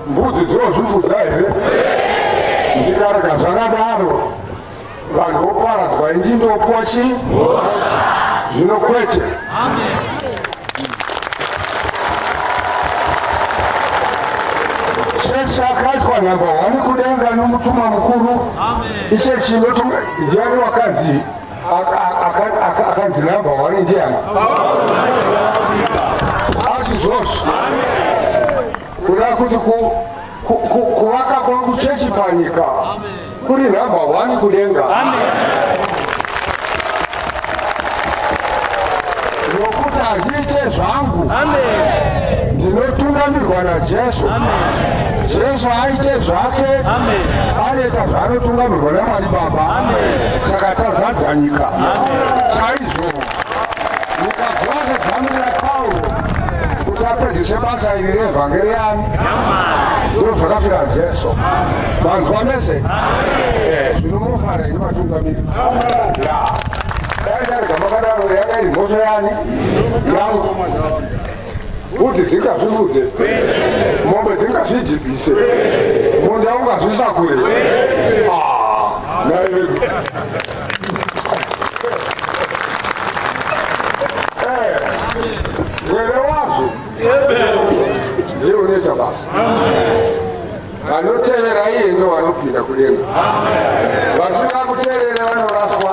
mbudzi dzinozvifudza here ndikarega zvakadaro vanhu voparadzwa inji ndopuwa chi zvino kwete cheshe akaitwa nhamba hwani kudenga nomutuma mukuru ichechi ndiani wakanzi akanzi number one ndiani asi zvozvo kuda kuti kuvaka kwangu chechi panyika kuri number one kudenga nokuti handiite zvangu ndinotungamirwa najesu jesu aite zvake anoita zvaanotungamirwa namwari baba saka tazadza nyika chaizvo mukadzose dzamu rapauro kuti apedzise basa iri reevhangeri yani ndiro zvakafira jesu vanzwa mese eh, zvinomufara ini vatungamiri dai darega makadaro yanga iri mhosva yani yangu Kuti dzingazvivudze mombe dzingazvijibise munda ungazvisakure mwene wazvo ndiye unoita basa vanotevera iye ndo vanopinda kudenga vasina kuterera vanoraswa